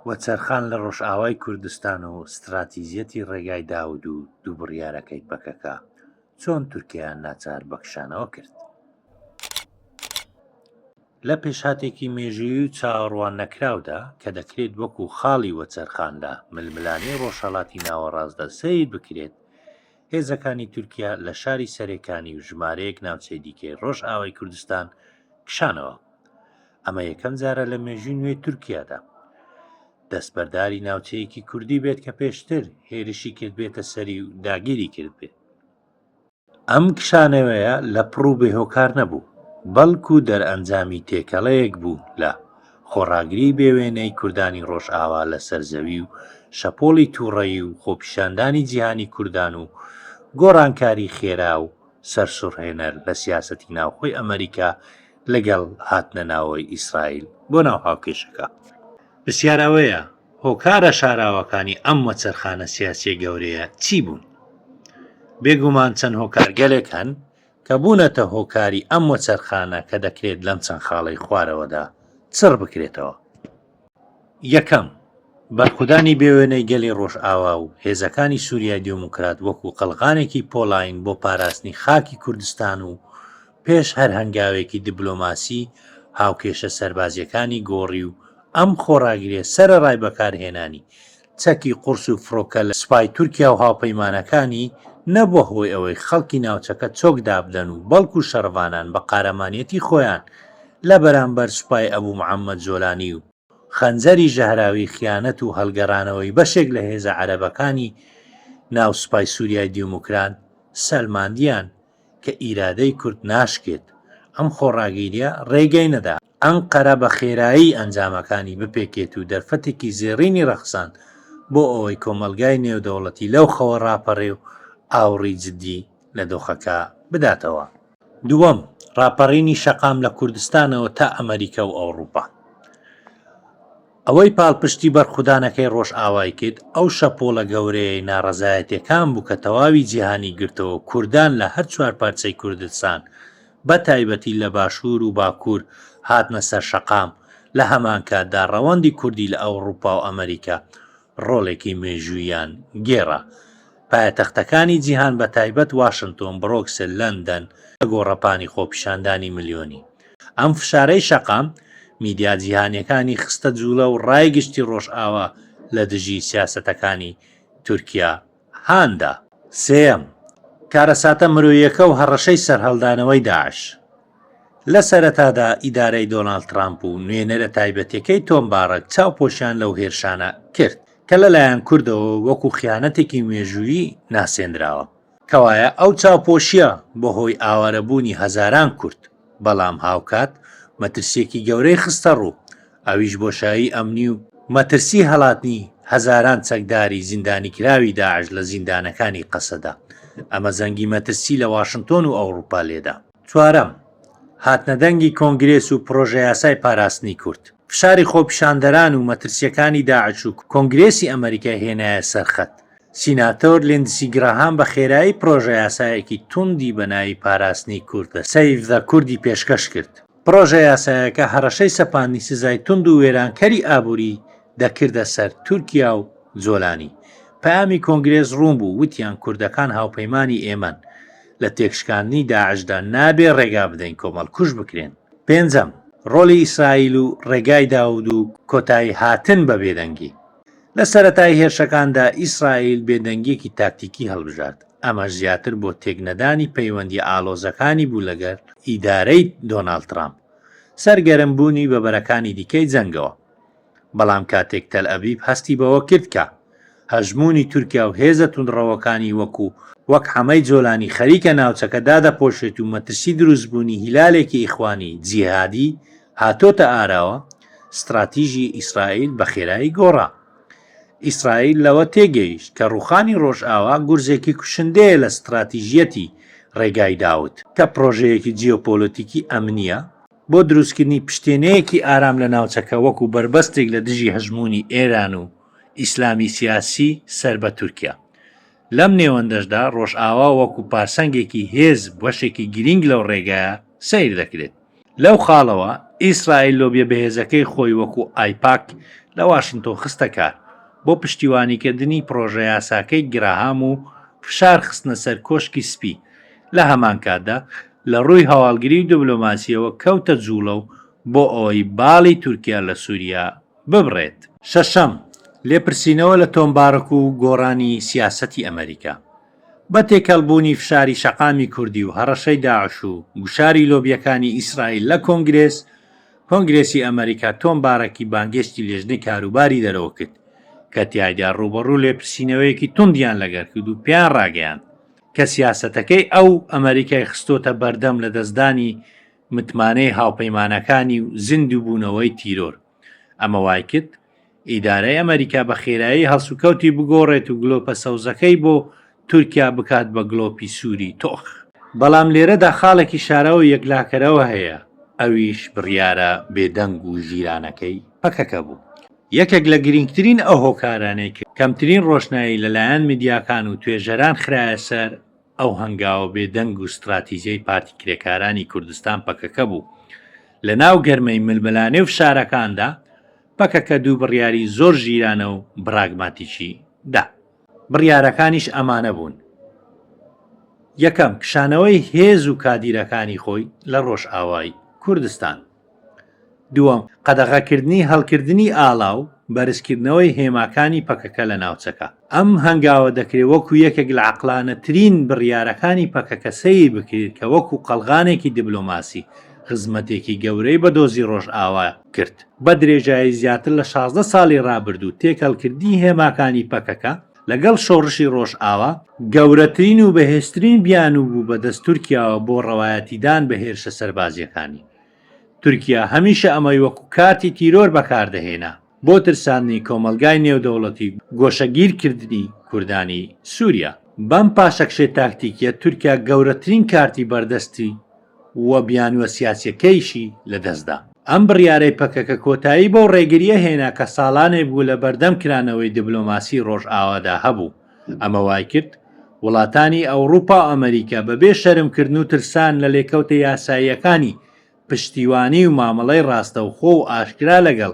وەچەرخان لە ڕۆژئاوای کوردستان و ستراتیژیەتی ڕێگای داود و دوو بڕیارەکەی پەکەکە چۆن تورکیایان ناچار بە کشانەوە کرد؟ لە پێشهاتێکی مێژووی و چاوەڕوان نەکراودا کە دەکرێت وەکو خاڵی وەچەرخان لە ململانێی ڕۆژهەڵاتی ناوەڕاستدا سەیر بکرێت، هێزەکانی تورکیا لە شاری سەرێکانی و ژمارەیەک ناوچەی دیکەی ڕۆژئاوای کوردستان کشانەوە. ئەمە یەکەم جارە لە مێژووی نوێی تورکیادا دەستبەرداری ناوچەیەکی کوردی بێت کە پێشتر هێرشی کردبێتە سەری و داگیری کرد بێت ئەم کشانەوەیە لە پڕ و بێهۆکار نەبوو بەڵکو دەرئەنجامی تێکەڵەیەک بوو لە خۆڕاگری بێوێنەی کوردانی ڕۆژئاوا لە سەرزەوی و شەپۆڵی تووڕەیی و خۆپیشاندانی جیهانی کوردان و گۆڕانکاری خێرا و سەرسوڕهێنەر لە سیاسەتی ناوخۆی ئەمریکا لەگەڵ هاتنە ناوەوەی ئیسرائیل بۆ ناو هاوکێشەکە. پرسیار ئەوەیە هۆکارە شاراوەکانی ئەم وەچەرخانە سیاسیە گەورەیە چی بوون؟ بێگومان چەند هۆکارگەلێک هەن کە بوونەتە هۆکاری ئەم وەچەرخانە کە دەکرێت لەم چەند خاڵەی خوارەوەدا چڕ بکرێتەوە. یەکەم، بەرخودانی بێ وێنەی گەلی ڕۆژئاوا و هێزەکانی سوریای دێموکرات وەکو قەڵغانێکی پۆڵاین بۆ پاراستنی خاکی کوردستان و پێش هەر هەنگاوێکی دبلۆماسی هاوکێشە سەربازیەکانی گۆڕی و ئەم خۆڕاگریە سەرەڕای بەکارهێنانی چەکی قورس و فڕۆکە لە سوپای تورکیا و هاوپەیمانەکانی، نەبووە هۆی ئەوەی خەڵکی ناوچەکە چۆک دابدەن و بەڵکو شەڕڤانان بە قارەمانیەتی خۆیان لە بەرامبەر سوپای ئەبو محەمەد جۆلانی و خەنجەری ژەهراوی خیانەت و هەڵگەڕانەوەی بەشێک لە هێزە عەرەبەکانی ناو سوپای سوریای دیوموکرات سەلماندیان کە ئیرادەی کورد ناشکێت ئەم خۆڕاگیریە ڕێگەی نەدا ئەنقەرە بە خێرایی ئەنجامەکانی بپێکێت و دەرفەتێکی زێڕینی ڕەخساند بۆ ئەوەی کۆمەڵگای نێودەوڵەتی لەو خەوە ڕاپەڕێ و ئاوڕی جدی لە دۆخەکە بداتەوە. دووەم، ڕاپەڕینی شەقام لە کوردستانەوە تا ئەمەریکا و ئەوڕوپا. ئەوەی پاڵپشتی بەرخودانەکەی ڕۆژئاوای کرد، ئەو شەپۆڵە گەورەیەی ناڕەزایەتیەکان بوو کە تەواوی جیهانی گرتەوە و کوردان لە هەر چوار پارچەی کوردستان، بە تایبەتی لە باشوور و باکوور هاتنە سەر شەقام، لە هەمان کاتدا ڕەوەندی کوردی لە ئەوڕوپا و ئەمەریکا ڕۆڵێکی مێژووییان گێڕا. پایەتەختەکانی جیهان بە تایبەت واشنتۆن، برۆکسل، لەندەن، لە گۆڕەپانی خۆپیشاندانی ملیۆنی ئەم فشارەی شەقام، میدیا جیهانیەکانی خستە جوڵە و ڕای گشتی ڕۆژئاوا لە دژی سیاسەتەکانی تورکیا هاندا. سێیەم، کارەساتە مرۆییەکە و هەڕەشەی سەرهەڵدانەوەی داعش. لە سەرەتادا ئیدارەی دۆناڵد ترامپ و نوێنەرە تایبەتیەکەی تۆم باڕەک چاوپۆشیان لەو هێرشانە کرد، کە لەلایەن کوردەوە وەکو خیانەتێکی مێژوویی ناسێندراوە. کەوایە ئەو چاوپۆشیە بۆ هۆی ئاوارەبوونی هەزاران کورد. بەڵام هاوکات مەترسیەکی گەورەی خستەڕوو ئەویش بۆشایی ئەمنی و مەترسی هەڵاتنی هەزاران چەکداری زیندانیکراوی داعش لە زیندانەکانی قەسەدە، ئەمە زەنگی مەترسی لە واشنتۆن و ئەوڕوپا لێدا. چوارەم، هاتنەدەنگی کۆنگرێس و پرۆژەیاسای پاراستنی کورد، فشاری خۆپیشاندەران و مەترسیەکانی داعش و کۆنگرێسی ئەمەریکای هێنایە سەرخەت، سیناتۆر لیندسی گراهام بە خێرایی پڕۆژەیاسایەکی توندی بە ناوی پاراستنی کوردە، Save the Kurd، ی پێشکەش کرد. پڕۆژەیاسایەکە هەڕەشەی سەپاندنی سزای توند و وێرانکەری ئابووری دەکردە سەر تورکیا و جۆلانی. پەیامی کۆنگرێس ڕوون بوو، وتیان کوردەکان هاوپەیمانی ئێمەن. لە تێکشکاندنی داعشدا نابێ ڕێگا بدەین کۆمەڵکوژ بکرێن. پێنجەم، ڕۆڵی ئیسرائیل و ڕێگای داوود و کۆتاییهاتن بە بێدەنگی. لە سەرەتای هێرشەکاندا ئیسرائیل بێدەنگییەکی تاکتیکی هەڵبژارد، ئەمەش زیاتر بۆ تێکنەدانی پەیوەندییە ئاڵۆزەکانی بوو لەگەڵ ئیدارەی دۆناڵد ترامپ، سەرگەرم بوونی بە بەرەکانی دیکەی جەنگەوە. بەڵام کاتێک تەلئەبیب هەستی بەوە کرد کە هەژموونی تورکیا و هێزە توندڕەوەکانی وەکوو وەک حەمەی جۆلانی خەریکە ناوچەکە دادەپۆشێت و مەترسی دروستبوونی هیلالێکی ئیخوانی جیهادی هاتۆتە ئاراوە، ستراتیژی ئیسرائیل بە خێرایی گۆڕا. ئیسرائیل لەوە تێگەیشت کە ڕووخانی ڕۆژئاوا گورزێکی کوشندەیە لە ستراتیژیەتی ڕێگای داود، کە پڕۆژەیەکی جیۆپۆلەتیکی ئەمنییە بۆ دروستکردنی پشتێنەیەکی ئارام لە ناوچەکە وەکو بەربەستێک لە دژی هەژموونی ئێران و ئیسلامی سیاسی سەر بە تورکیا. لەم نێوەندەشدا ڕۆژئاوا وەکو پارسەنگێکی هێز بەشێکی گرینگ لەو ڕێگایە سەیر دەکرێت. لەو خاڵەوە ئیسرائیل لۆبیە بەهێزەکەی خۆی وەکو ئایپاک لە واشنتۆن خستە کار بۆ پشتیوانیکردنی پڕۆژەیاساکەی گراهام و فشار خستنە سەر کۆشکی سپی، لە هەمانکاتدا لە ڕووی هەواڵگری و دبلۆماسیەوە کەوتە جوڵە و بۆ ئەوەی باڵی تورکیا لە سوریا ببڕێت. شەشەم، لێپرسینەوە لە تۆمبارک و گۆڕانی سیاسەتی ئەمەریکا. بە تێکەڵبوونی فشاری شەقامی کوردی و هەڕەشەی داعش و گوشاری لۆبیەکانی ئیسرائیل لە کۆنگرێس کۆنگرێسی ئەمەریکا تۆم بارەکی بانگێشتی لێژنەی کاروباری دەرەوە کرد کە تیایدا ڕووبەڕوو لێپرسینەوەیەکی توندیان لەگەر کرد و پێیان ڕاگەیاند کە سیاسەتەکەی ئەو ئەمەریکای خستۆتە بەردەم لەدەستدانی متمانەی هاوپەیمانەکانی و زیندووبوونەوەی تیرۆر ئەمە وایکرد ئیدارەی ئەمەریکا بە خێرایی هەڵسوکەوتی بگۆڕێت و گلۆپە سەوزەکەی بۆ تورکیا بکات بە گلۆپی سووری تۆخ. بەڵام لێرەدا خاڵێکی شاراوە و یەکلاکەرەوە هەیە، ئەویش بڕیارە بێدەنگ و ژیرانەکەی پەکەکە بوو. یەکێک لە گرینگترین ئەو هۆکارانەی کە کەمترین ڕۆشنایی لەلایەن میدیاکان و توێژەران خرایە سەر ئەو هەنگاوە بێ دەنگ و ستراتیجەی پارتی کرێکارانی کوردستان پەکەکە بوو. لە ناو گەرمەی ململانێ و فشارەکاندا پەکەکە دوو بڕیاری زۆر ژیرانە و بڕاگماتیکی دا. بڕیارەکانیش ئەمانە بوون. یەکەم، کشانەوەی هێز و کادیرەکانی خۆی لە ڕۆژئاوای کوردستان. دووەم، قەدەغەکردنی هەڵکردنی ئاڵا و بەرزکردنەوەی هێماکانی پەکەکە لە ناوچەکە. ئەم هەنگاوە دەکرێت وەکو یەکێک لە عەقڵانەترین بڕیارەکانی پەکەکە سەیر بکرێت کە وەکو قەڵغانێکی دبلۆماسی خزمەتێکی گەورەی بە دۆزی ڕۆژئاوا کرد. بە درێژایی زیاتر لە شازدە ساڵی ڕابردوو، تێکەڵکردنی هێماکانی پەکەکە لەگەڵ شۆڕشی ڕۆژئاوا، گەورەترین و بەهێزترین بیانوو بوو بەدەست تورکیاوە بۆ ڕەوایەتیدان بە هێرشە سەربازییەکانی. تورکیا هەمیشە ئەمەی وەکو کارتی تیرۆر بەکاردەهێنا بۆ ترساندنی کۆمەڵگای نێودەوڵەتی و گۆشەگیرکردنی کوردانی سووریا. بەم پاشەکشەی تاکتیکییە تورکیا گەورەترین کارتی بەردەستی، و بیانووە سیاسییەکەیشی لەدەستدا. ئەم بڕیارەی پەکەکە کۆتایی بەو ڕێگرییە هێنا کە ساڵانێک بوو لە بەردەم کرانەوەی دبلۆماسیی ڕۆژئاوادا هەبوو، ئەمە وایکرد وڵاتانی ئەوڕوپا و ئەمەریکا بەبێ شەرمکردن و ترسان لە لێکەوتە یاساییەکانی پشتیوانی و مامەڵەی ڕاستەوخۆ و ئاشکرا لەگەڵ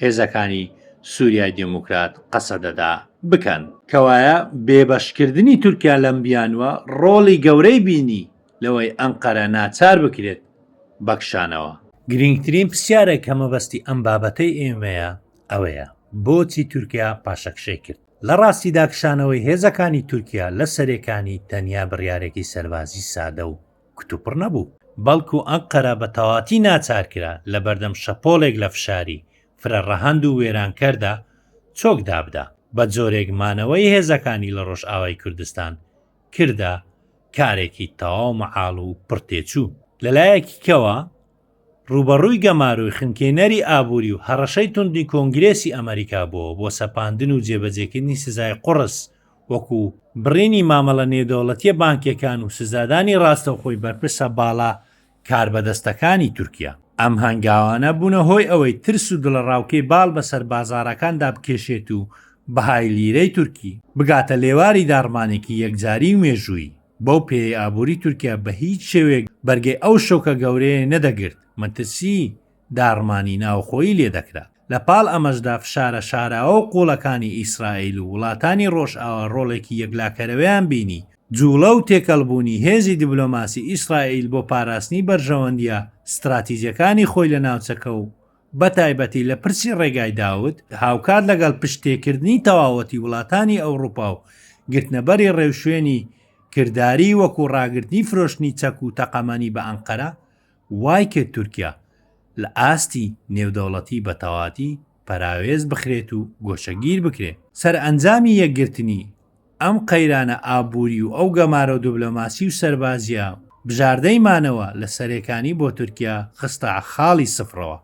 هێزەکانی سوریای دێموکرات، قەسەدەدا، بکەن. کەوایە بێبەشکردنی تورکیا لەم بیانووە ڕۆڵی گەورەی بینی لەوەی ئەنقەرە ناچار بکرێت بە کشانەوە. گرینگترین پرسیارە کە مەبەستی ئەم بابەتەی ئێمەیە ئەوەیە، بۆچی تورکیا پاشەکشەی کرد؟ لە ڕاستیدا کشانەوەی هێزەکانی تورکیا لە سەرێکانی تەنیا بڕیارێکی سەربازی سادە و کوتوپڕ نەبوو، بەڵکو ئەنقەرە بە تەواتی ناچار کرا لە بەردەم شەپۆڵێک لە فشاری فرە ڕەهەند و وێرانکەردا چۆک دابدا، بە جۆرێک مانەوەی هێزەکانی لە ڕۆژئاوای کوردستان کردە کارێکی تەواو مەحاڵ و پڕ تێچوو. لە لایەکی کەوە، ڕووبەڕووی گەمارۆی خنکێنەری ئابووری و هەڕەشەی توندی کۆنگرێسی ئەمەریکا بووە بۆ سەپاندن و جێبەجێکردنی سزای قوڕس وەکو بڕینی مامەڵە نێودەوڵەتییە بانکییەکان و سزادانی ڕاستەوخۆی بەرپرسە باڵا کاربەدەستەکانی تورکیا. ئەم هەنگاوانە بوونە هۆی ئەوەی ترس و دڵەڕاوکێی باڵ بەسەر بازاڕەکاندا بکێشێت و بەهای لیرەی تورکی بگاتە لێواری داڕمانێکی یەکجاری و مێژوویی، بەو پێیەی ئابووری تورکیا بە هیچ شێوەیەک بەرگەی ئەو شۆکە گەورەیەی نەدەگرت، مەترسیی داڕمانی ناوخۆیی لێ دەکرا. لە پاڵ ئەمەشدا فشارە شاراوە و قووڵەکانی ئیسرائیل و وڵاتانی ڕۆژئاوا ڕۆڵێکی یەکلاکەرەوەیان بینی. جووڵە و تێکەڵبوونی هێزی دیبلۆماسی ئیسرائیل بۆ پاراستنی بەرژەوەندییە ستراتیجەکانی خۆی لە ناوچەکە و بە تایبەتی لە پرسی ڕێگای داود، هاوکات لەگەڵ پشتتێکردنی تەواوەتی وڵاتانی ئەوڕوپا و گرتنەبەری ڕێوشوێنی کرداریی وەکوو ڕاگرتنی فرۆشتنی چەک و تەقەمەنی بە ئەنقەرە، وای کرد تورکیا لە ئاستی نێودەوڵەتی بە تەواتی پەراوێز بخرێت و گۆشەگیر بکرێت. سەرئەنجامی یەکگرتنی ئەم قەیرانە ئابووری و ئەو گەمارۆ دبلۆماسی و سەربازییە بژاردەی مانەوە لە سەرێکانی بۆ تورکیا خستە خاڵی سفرەوە،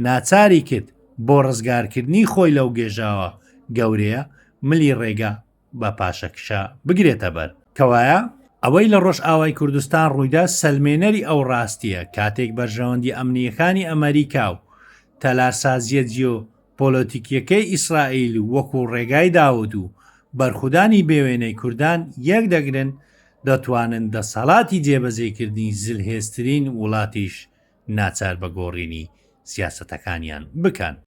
ناچاری کرد بۆ ڕزگارکردنی خۆی لەو گێژاوە گەورەیە ملی ڕێگا بە پاشەکشە بگرێتە بەر. کەوایە ئەوەی لە ڕۆژئاوای کوردستان ڕوویدا سەلمێنەری ئەو ڕاستیە کاتێک بەرژەوەندی ئەمنیەکانی ئەمەریکا و تەلارسازیە جیۆ پۆلۆتیکیەکەی ئیسرائیل وەکو ڕێگای داوود و بەرخودانی بێوێنەی کوردان یەک دەگرن دەتوانن دەسەڵاتی جێبەجێ کردنی زلهێزترین وڵاتیش ناچار بە گۆڕینی سیاسەتەکانیان بکەن.